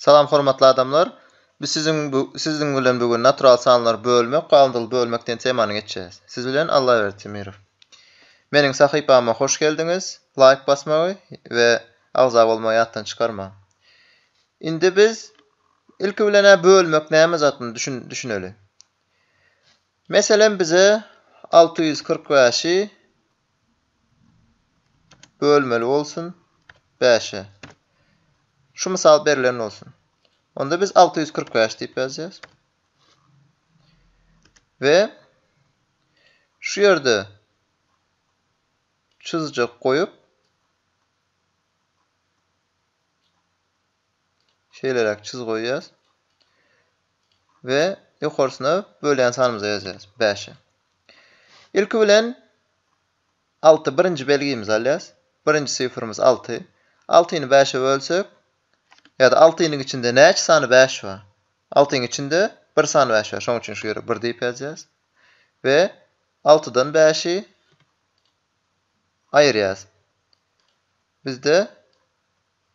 Salam hormatly adamlar! Biz siziň bu siziň bilen bu gün natural sanlary bölmek, galyndyly bölmek diýen temany geçýäs. Siz bilen Allaberdi Temirow. Meniň sahypama hoş geldiňiz! Laýk basmagy we agza bolmagy ýatdan çykarmaň. Indi biz ilki bilen-ä bölmek näme zadyny düşün düşüneli. Meselem bize alty ýüz kyrk bäşi bölmeli bolsun bäşe. Şu mysal berlen bolsun. Onda biz alty ýüz kyrk bäş diýip ýazýarys. We şu ýerde çyzjak goýup şeýleräk çyz goýýas. we ýokarsyna bölýän sanymyza ýazýarys, bäşe. Ilki bilen alty birinji belgimizi alýarys. Birinji sifrimiz alty. Altyny bäşe bölsek, ýa-da altynyň içinde näçe sany bäş bar? Altynyň içinde bir sany bäş bar, şonuň üçin şu ýere bir diýip ýazýarys we altydan bäşi aýyrýarys. Bizde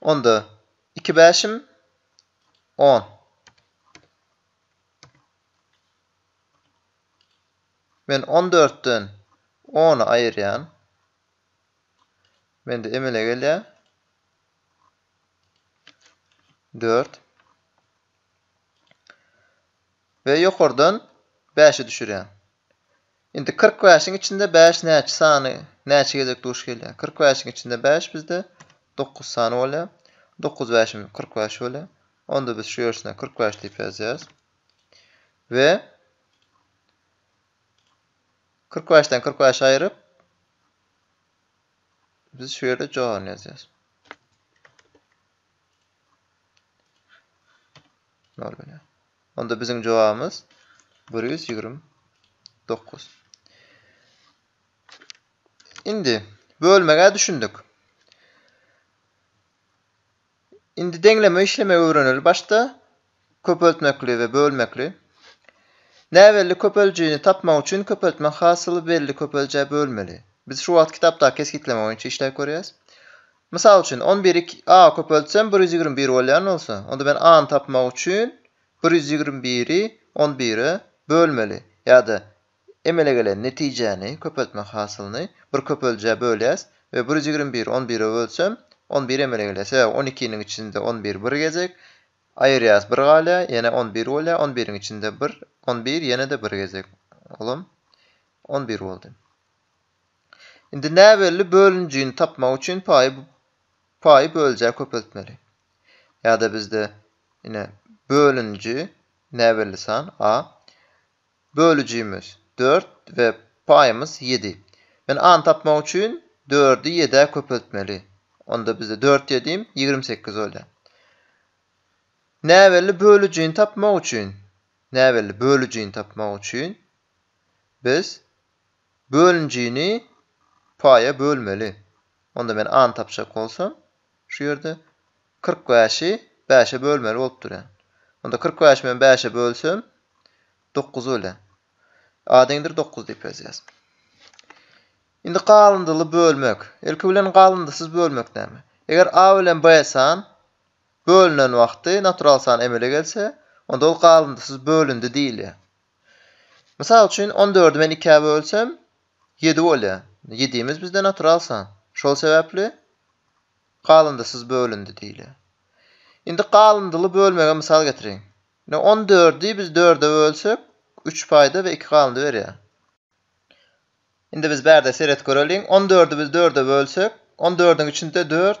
Onda iki bäşim on. Men on dörtden ony aýyrýan. Mende emele gelýär. Dört. Ve ýokardan bäşi düşürýän. Indi kyrk bäşiň içinde bäş näçe sany näçe gezek duş gelýär? Kyrk bäşiň içinde bäş bizde dokuz sany bolýar. Dokuz bäşimiz kyrk bäş bolýar. Onda biz şu ýersine kyrk bäş diýip ýazýarys. We kyrk bäşden kyrk bäşi aýryp biz şu ýerde jogabyny ýazýarys. Nol bolýar. Onda biziň jogabymyz bir ýüz ýigrimi dokuz. Indi bölmegä düşündik. Indi deňleme işlemegi öwreneli başda köpeltmekli we bölmekli. Näbelli köpeljini tapmak üçin köpeltme hasyly belli köpeljä bölmeli. Biz şu wagt kitapdaky kesgitleme boýunça işläp görýäs. Mysal üçin, on biri iki a köpeltsem bir ýüz ýigrimi bir bolýan bolsa, onda men a-ny tapmak üçin bir ýüz ýigrimi biri on bire bölmeli. Ýa-da emele gelen netijäni, köpeltme hasylyny bir köpeldijä bölýäs we bir ýüz ýigrimi biri on bire bölsem, on bir emele gelýär. Sebäbi on ikiniň içinde on bir bir gezek, aýyrýas bir galýar, ýene on bir bolýar, on biriň içinde bir, on bir ýene-de bir gezek, olam on bir boldy. Indi näbelli bölünijini tapmak üçin paýy paýy böljä köpeltmeli. Ýa-da bizde ine bölüniji näbelli san a. Bölüjimiz dört we paýymyz ýedi. Men a-ny tapmak üçin dördi ýedä köpeltmeli. Onda bizde dört ýedim ýigrimi sekiz bolýar. Näbelli bölüjini tapmak üçin näbelli bölüjini tapmak üçin biz Bölünjini paýa bölmeli. Onda men A-ny tapjak bolsam, şu ýerde kyrk bäşi bäşe bölmeli bolup durýan. Onda kyrk bäşi men bäşe bölsem, dokuz bolýar. A deňdir dokuz diýip ýazýarys. Indi galyndyly bölmek. Ilki bilen galyndysyz bölmek näme? Eger A bilen B san bölünen wagty natural san emele gelse, onda ol galyndysyz bölündi diýilýär. Mysal üçin, on dördi men ikä bölsem, ýedi bolýar. Ýedimiz bizde natural san. Şol sebäpli galyndysyz bölündi diýilýär. Indi galyndyly bölmege mysal getiriň. Ine, on dördi biz dörde bölsek, üç paýda we iki galyndy berýär. Indi biz bärde seret göreliň. On dördi biz dörde bölsek, on dördüň içinde dört,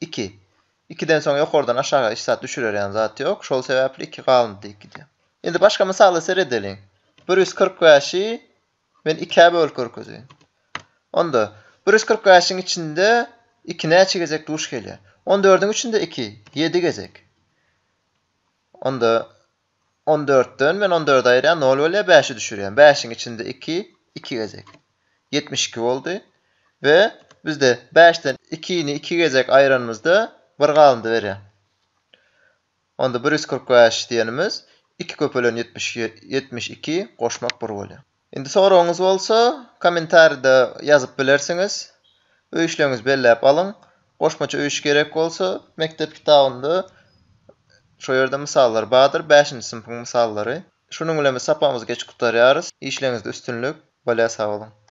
Iki. Ikiden soň ýokardan aşaga iç zat düşürerýän zat ýok, şol sebäpli iki galyndy diýip gidýär. Indi başga mysala seredeliň. Bir ýüz kyrk bäşi men ikä bölüp görkezeýin. Onda, bir ýüz kyrk bäşiň içinde iki näçe gezek duş gelýär? On dördüň içinde iki, ýedi gezek. Onda, On dörtden men on dördi aýyrýan, nol bolýar, bäşi düşürýän. Bäşiň içinde iki, iki gezek. Ýetmiş iki boldy. We bizde bäşden ikini iki gezek aýyranymyzda bir galyndy berýär. Onda bir ýüz kyrk bäş diýenimiz iki köpelen ýetmiş iki, goşmak bir bolýar. Indi soragyňyz bolsa, kommentaride ýazyp bilersiňiz. Öýüşleňizi belläp alyň. Goşmaça öýüş gerek bolsa, mekdep kitabynda şo ýerde mysallar bardyr, bäşinji synpyň mysallary. Şunuň bilen biz sapagymyzy geçip gutarýarys. Işleňizde üstünlik. Bolýa sag boluň.